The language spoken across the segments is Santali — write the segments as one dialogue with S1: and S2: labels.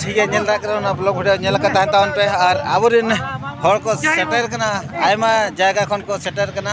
S1: ᱴᱷᱤᱠ ᱜᱮᱭᱟ ᱧᱮᱞ ᱫᱟᱲᱮᱭᱟᱜ ᱠᱟᱱᱟ ᱚᱱᱟ ᱵᱞᱚᱜ ᱵᱷᱤᱰᱤᱭᱳ ᱧᱮᱞ ᱟᱠᱟᱫ ᱛᱟᱦᱮᱱ ᱛᱟᱵᱚᱱ ᱯᱮ ᱟᱨ ᱟᱵᱚᱨᱮᱱ ᱦᱚᱲ ᱠᱚ ᱥᱮᱴᱮᱨ ᱠᱟᱱᱟ ᱟᱭᱢᱟ ᱡᱟᱭᱜᱟ ᱠᱷᱚᱱ ᱠᱚ ᱥᱮᱴᱮᱨ ᱠᱟᱱᱟ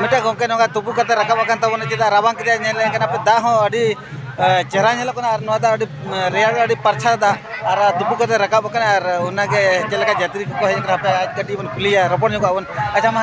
S1: ᱢᱤᱫᱴᱮᱡ ᱜᱚᱢᱠᱮ ᱱᱚᱝᱠᱟ ᱛᱩᱯᱩ ᱠᱟᱛᱮ ᱨᱟᱠᱟᱵ ᱟᱠᱟᱱ ᱛᱟᱵᱚᱱᱟ ᱪᱮᱫᱟᱜ ᱨᱟᱵᱟᱝ ᱠᱮᱫᱟᱭ ᱧᱮᱞ ᱞᱮᱱ ᱠᱟᱱᱟ ᱯᱮ ᱫᱟᱜ ᱦᱚᱸ ᱟᱹᱰᱤ ᱪᱮᱦᱨᱟ ᱧᱮᱞᱚᱜ ᱠᱟᱱᱟ ᱟᱨ ᱱᱚᱣᱟ ᱫᱟᱜ ᱟᱹᱰᱤ ᱨᱮᱭᱟᱲ ᱟᱹᱰᱤ ᱯᱟᱨᱪᱷᱟ ᱫᱟᱜ ᱟᱨ ᱛᱩᱯᱩ ᱠᱟᱛᱮ ᱨᱟᱠᱟᱵ ᱟᱠᱟᱱᱟ ᱟᱨ ᱚᱱᱟᱜᱮ ᱪᱮᱫ ᱞᱮᱠᱟ ᱡᱟᱛᱨᱤ ᱠᱚᱠᱚ ᱦᱮᱡ ᱟᱠᱟᱱᱟ ᱦᱟᱯᱮ ᱟᱡ ᱠᱟᱹᱴᱤᱡ ᱵᱚᱱ ᱠᱩᱞᱤᱭᱮᱭᱟ ᱨᱚᱯᱚᱲ ᱧᱚᱜᱚᱜ ᱟᱵᱚᱱ ᱟᱪᱪᱷᱟ ᱢᱟ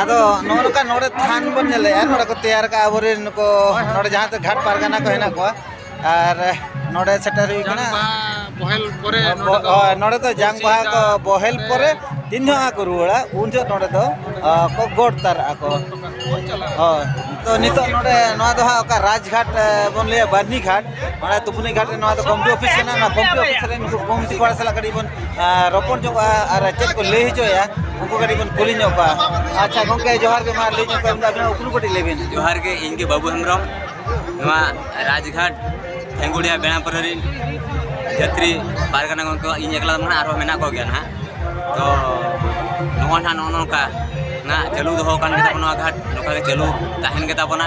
S1: ᱟᱫᱚ ᱱᱚᱜᱼᱚ ᱱᱚᱝᱠᱟ ᱱᱚᱰᱮ ᱛᱷᱟᱱ ᱵᱚᱱ ᱧᱮᱞᱮᱜᱼᱟ ᱱᱚᱰᱮ ᱠᱚ ᱛᱮᱭᱟᱨ ᱠᱟᱜᱼᱟ ᱟᱵᱚᱨᱮᱱ ᱱᱩᱠᱩ ᱱᱚᱰᱮ ᱡᱟᱦᱟᱸ ᱛᱮ ᱜᱷᱟᱴ ᱯᱟᱨᱜᱟᱱᱟ ᱠᱚ ᱦᱮᱱᱟᱜ ᱠᱚᱣᱟ ᱟᱨ ᱱᱚᱰᱮ ᱥᱮᱴᱮᱨ ᱦᱩᱭ ᱠᱟᱱᱟ ᱱᱚᱰᱮ ᱫᱚ ᱡᱟᱝ ᱵᱟᱦᱟ ᱠᱚ ᱵᱚᱦᱮᱞ ᱯᱚᱨᱮ ᱛᱤᱱ ᱡᱚᱦᱚᱜ ᱠᱚ ᱨᱩᱣᱟᱹᱲᱟ ᱩᱱ ᱡᱚᱦᱚᱜ ᱱᱚᱰᱮ ᱫᱚ ᱠᱚ ᱜᱚᱰ ᱛᱟᱨᱟᱜᱼᱟ ᱠᱚ ᱦᱳᱭ ᱛᱚ ᱱᱤᱛᱚᱜ ᱱᱚᱰᱮ ᱱᱚᱣᱟ ᱫᱚ ᱦᱟᱸᱜ ᱚᱠᱟ ᱨᱟᱡᱽᱜᱷᱟᱴ ᱵᱚᱱ ᱞᱟᱹᱭᱟ ᱵᱟᱹᱨᱱᱤᱜᱷᱟᱴ ᱢᱟᱱᱮ ᱛᱩᱯᱩᱱᱤ ᱜᱷᱟᱴ ᱨᱮ ᱱᱚᱣᱟ ᱫᱚ ᱠᱚᱢᱤᱴᱤ ᱚᱯᱷᱤᱥ ᱠᱟᱱᱟ ᱚᱱᱟ ᱠᱚᱢᱤᱴᱤ ᱚᱯᱷᱤᱥ ᱨᱮ ᱱᱩᱠᱩ ᱠᱚᱢᱤᱴᱤ ᱠᱚᱲᱟ ᱥᱟᱞᱟᱜ ᱠᱟᱹᱴᱤᱡ ᱵᱚᱱ ᱨᱚᱯᱚᱲ ᱧᱚᱜᱼᱟ ᱟᱨ ᱪᱮᱫ ᱠᱚ ᱞᱟᱹᱭ ᱦᱚᱪᱚᱭᱟ ᱩᱱᱠᱩ ᱠᱟᱹᱴᱤᱡ ᱵᱚᱱ ᱠᱩᱞᱤ ᱧᱚᱜ ᱠᱚᱣᱟ ᱟᱪᱪᱷᱟ ᱜᱚᱢᱠᱮ ᱡᱚᱦᱟᱨ ᱜᱮ ᱢᱟ ᱞᱟᱹᱭ ᱧᱚᱜ ᱠᱚᱣᱟ ᱟᱵᱤᱱᱟᱜ ᱩᱯᱨᱩᱢ ᱠᱟᱹᱴᱤᱡ ᱞᱟᱹᱭ ᱵᱤᱱ ᱡᱚᱦᱟᱨ ᱜᱮ ᱤᱧ ᱜᱮ ᱵᱟᱹᱵᱩ ᱦᱮᱢᱵᱨᱚᱢ ᱱᱚᱣᱟ ᱨᱟᱡᱽᱜᱷᱟᱴ ᱯᱷᱮᱝᱜᱩᱲᱤᱭᱟ ᱵᱮᱲᱟᱯᱩᱨ ᱨᱤᱱ ᱡᱟᱛᱨᱤ ᱯᱟᱨᱜᱟᱱᱟ ᱜᱚᱢᱠᱮ ᱤᱧ ᱮᱠᱞᱟ ᱫᱚ ᱟᱨᱦᱚᱸ ᱢᱮᱱᱟᱜ ᱠᱚ ᱜᱮᱭᱟ ᱱᱟᱦᱟᱜ ᱛᱚ ᱱᱚᱜᱼᱚᱭ ᱱᱟᱦᱟᱜ ᱱᱚᱜᱼᱚ ᱱᱚᱝᱠᱟ ᱱᱟᱦᱟᱜ ᱪᱟᱹᱞᱩ ᱫᱚᱦᱚ ᱟᱠᱟᱱ ᱜᱮᱛᱟ ᱵᱚᱱᱟ ᱱᱚᱣᱟ ᱜᱷᱟᱴ ᱱᱚᱝᱠᱟ ᱜᱮ ᱪᱟᱹᱞᱩ ᱛᱟᱦᱮᱱ ᱜᱮᱛᱟ ᱵᱚᱱᱟ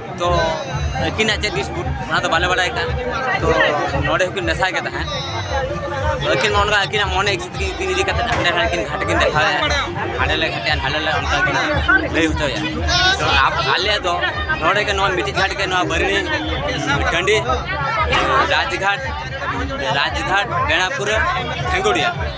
S1: ᱛᱚ ᱟᱹᱠᱤᱱᱟᱜ ᱪᱮᱫ ᱰᱤᱥᱯᱩᱴ ᱚᱱᱟ ᱫᱚ ᱵᱟᱞᱮ ᱵᱟᱰᱟᱭ ᱠᱟᱱ ᱛᱚ ᱱᱚᱰᱮ ᱦᱚᱸᱠᱤᱱ ᱢᱮᱥᱟ ᱜᱮ ᱛᱟᱦᱮᱸᱫ ᱟᱹᱠᱤᱱ ᱚᱱᱠᱟ ᱟᱹᱠᱤᱱᱟᱜ ᱢᱚᱱᱮ ᱤᱪᱪᱷᱤᱛ ᱜᱮ ᱤᱫᱤ ᱤᱫᱤ ᱠᱟᱛᱮ ᱦᱟᱸᱰᱮ ᱱᱟᱰᱮ ᱠᱤᱱ ᱜᱷᱟᱴ ᱠᱤᱱ ᱫᱮᱠᱷᱟᱣᱮᱫᱼᱟ ᱦᱟᱸᱰᱮ ᱞᱮ ᱜᱷᱟᱴᱮᱜᱼᱟ ᱱᱟᱰᱮ ᱞᱮ ᱚᱱᱠᱟ ᱠᱤᱱ ᱞᱟᱹᱭ ᱦᱚᱪᱚᱭᱟ ᱛᱚ ᱟᱞᱮ ᱫᱚ ᱱᱚᱰᱮ ᱜᱮ ᱱᱚᱣᱟ ᱢᱤᱫᱴᱤᱡ ᱜᱷᱟᱴ ᱜᱮ ᱱᱚᱣᱟ ᱵᱟᱹᱨᱤ ᱴᱟᱺᱰᱤ ᱨᱟᱡᱽᱜᱷᱟᱴ ᱨᱟᱡᱽᱜᱷᱟᱴ ᱵᱮᱲᱟᱯᱩᱨ ᱴᱷᱮᱸᱜᱩᱲᱤᱭᱟ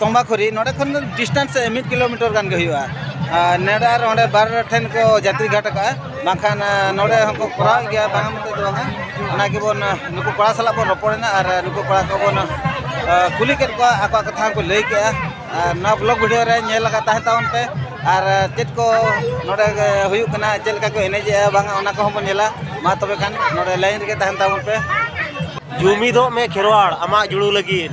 S1: ᱛᱚᱢᱵᱟᱠᱷᱩᱨᱤ ᱱᱚᱰᱮ ᱠᱷᱚᱱ ᱰᱤᱥᱴᱮᱱᱥ ᱢᱤᱫ ᱠᱤᱞᱳᱢᱤᱴᱟᱨ ᱜᱟᱱ ᱜᱮ ᱦᱩᱭᱩᱜᱼᱟ ᱱᱚᱰᱮ ᱟᱨ ᱚᱸᱰᱮ ᱵᱟᱨ ᱴᱷᱮᱱ ᱠᱚ ᱡᱟᱛᱨᱤ ᱜᱷᱟᱴ ᱟᱠᱟᱜᱼᱟ ᱵᱟᱝᱠᱷᱟᱱ ᱱᱚᱰᱮ ᱦᱚᱸᱠᱚ ᱠᱚᱨᱟᱣ ᱜᱮᱭᱟ ᱵᱟᱝ ᱢᱮᱱᱛᱮ ᱫᱚ ᱵᱟᱝᱟ ᱚᱱᱟ ᱜᱮᱵᱚᱱ ᱱᱩᱠᱩ ᱠᱚᱲᱟ ᱥᱟᱞᱟᱜ ᱵᱚᱱ ᱨᱚᱯᱚᱲᱮᱱᱟ ᱟᱨ ᱱᱩᱠᱩ ᱠᱚᱲᱟ ᱠᱚᱵᱚᱱ ᱠᱩᱞᱤ ᱠᱮᱫ ᱠᱚᱣᱟ ᱟᱠᱚᱣᱟᱜ ᱠᱟᱛᱷᱟ ᱦᱚᱸᱠᱚ ᱞᱟᱹᱭ ᱠᱮᱜᱼᱟ ᱟᱨ ᱱᱚᱣᱟ ᱵᱞᱚᱜᱽ ᱵᱷᱤᱰᱤᱭᱳ ᱨᱮ ᱧᱮᱞ ᱟᱠᱟᱫ ᱛᱟᱦᱮᱸ ᱛᱟᱵᱚᱱ ᱯᱮ ᱟᱨ ᱪᱮᱫ ᱠᱚ ᱱᱚᱰᱮ ᱦᱩᱭᱩᱜ ᱠᱟᱱᱟ ᱪᱮᱫ ᱞᱮᱠᱟ ᱠᱚ ᱮᱱᱮᱡᱮᱜᱼᱟ ᱵᱟᱝᱟ ᱚᱱᱟ ᱠᱚᱦᱚᱸ ᱵᱚᱱ ᱧᱮᱞᱟ ᱢᱟ ᱛᱚᱵᱮ ᱠᱷᱟᱱ ᱱᱚᱰᱮ ᱞᱟᱭᱤᱱ ᱨᱮᱜᱮ ᱛᱟᱦᱮᱱ ᱛᱟᱵᱚᱱ ᱯᱮ ᱡᱩᱢᱤᱫᱚᱜ ᱢᱮ ᱠᱷᱮᱨᱣᱟᱲ ᱟᱢᱟᱜ ᱡᱩᱲᱩ ᱞᱟᱹᱜᱤᱫ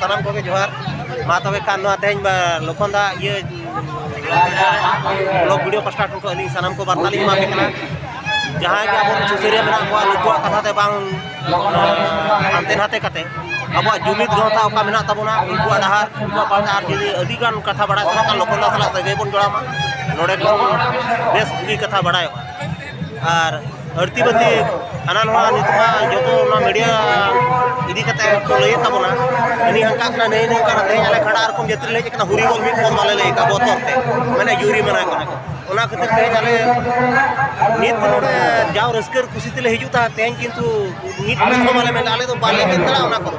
S1: ᱥᱟᱱᱟᱢ ᱠᱚᱜᱮ ᱡᱚᱦᱟᱨ ᱢᱟ ᱛᱚᱵᱮ ᱠᱷᱟᱱ ᱱᱚᱣᱟ ᱛᱮᱦᱮᱧ ᱞᱚᱠᱷᱚᱱ ᱫᱟ ᱤᱭᱟᱹ ᱵᱞᱚᱜ ᱵᱷᱤᱰᱤᱭᱳ ᱯᱟᱥᱴᱟ ᱴᱷᱮᱱ ᱠᱷᱚᱱ ᱟᱹᱞᱤᱧ ᱥᱟᱱᱟᱢ ᱠᱚ ᱵᱟᱨᱛᱟ ᱞᱤᱧ ᱮᱢᱟᱯᱮ ᱠᱟᱱᱟ ᱡᱟᱦᱟᱸᱭ ᱜᱮ ᱟᱵᱚ ᱥᱩᱥᱟᱹᱨᱤᱭᱟᱹ ᱢᱮᱱᱟᱜ ᱠᱚᱣᱟ ᱱᱩᱠᱩᱣᱟᱜ ᱠᱟᱛᱷᱟ ᱛᱮ ᱵᱟᱝ ᱦᱟᱱᱛᱮ ᱱᱟᱛᱮ ᱠᱟᱛᱮ ᱟᱵᱚᱣᱟᱜ ᱡᱩᱢᱤᱫ ᱜᱟᱶᱛᱟ ᱚᱠᱟ ᱢᱮᱱᱟᱜ ᱛᱟᱵᱚᱱᱟ ᱩᱱᱠᱩᱣᱟᱜ ᱰᱟᱦᱟᱨ ᱩᱱᱠᱩᱣᱟᱜ ᱯᱟᱦᱴᱟ ᱟᱨ ᱡᱩᱫᱤ ᱟᱹᱰᱤ ᱜᱟᱱ ᱠᱟᱛᱷᱟ ᱵᱟᱲᱟᱭ ᱥᱟᱱᱟ ᱠᱷᱟᱱ ᱞᱚᱠᱷᱚᱱ ᱫᱟ ᱥᱟᱞᱟᱜ ᱥᱟᱹᱜᱟᱹᱭ ᱵᱚᱱ ᱡᱚᱲᱟᱣ ᱢᱟ ᱱᱚᱰᱮ ᱠᱷᱚᱱ ᱵᱮᱥ ᱵᱩᱜᱤ ᱠᱟᱛᱷᱟ ᱵᱟᱲᱟᱭᱚᱜᱼᱟ ᱟᱨ ᱟᱹᱲᱛᱤ ᱵᱟᱹᱲᱛᱤ ᱦᱟᱱᱟ ᱱᱚᱣᱟ ᱱᱤᱛᱚᱜ ᱢᱟ ᱡᱚᱛᱚ ᱚᱱᱟ ᱢᱤᱰᱤᱭᱟ ᱤᱫᱤ ᱠᱟᱛᱮ ᱠᱚ ᱞᱟᱹᱭᱮᱫ ᱛᱟᱵᱚᱱᱟ ᱦᱟᱹᱱᱤ ᱦᱟᱱᱠᱟᱜ ᱠᱟᱱᱟ ᱱᱟᱹᱭ ᱱᱚᱝᱠᱟ ᱠᱟᱱᱟ ᱛᱮᱦᱮᱧ ᱟᱞᱮ ᱠᱷᱟᱰᱟ ᱨᱚᱠᱚᱢ ᱡᱟᱹᱛᱤ ᱞᱮ ᱦᱮᱡ ᱠᱟᱱᱟ ᱦᱩᱨᱤ ᱵᱚᱞ ᱢᱤᱫ ᱵᱚᱞ ᱵᱟᱞᱮ ᱞᱟᱹᱭ ᱠᱟᱜ ᱵᱚᱛᱚᱨ ᱛᱮ ᱢᱟᱱᱮ ᱡᱩᱨᱤ ᱢᱟᱱᱟ ᱠᱟᱱᱟ ᱠᱚ ᱚᱱᱟ ᱠᱷᱟᱹᱛᱤᱨ ᱛᱮᱦᱮᱧ ᱟᱞᱮ ᱱᱤᱛ ᱱᱚᱰᱮ ᱡᱟᱣ ᱨᱟᱹᱥᱠᱟᱹ ᱠᱩᱥᱤ ᱛᱮᱞᱮ ᱦᱤᱡᱩᱜ ᱛᱟᱦᱮᱸᱫ ᱛᱮᱦᱮᱧ ᱠᱤᱱᱛᱩ ᱢᱤᱫ ᱵᱚᱞ ᱦᱚᱸ ᱵᱟᱞᱮ ᱢᱮᱱ ᱫᱟᱲᱮᱭᱟᱜᱼᱟ ᱟᱞᱮ ᱫᱚ ᱵᱟᱞᱮ ᱢᱮᱱ ᱫᱟᱲᱮᱭᱟᱜᱼᱟ ᱚᱱᱟ ᱠᱚᱫᱚ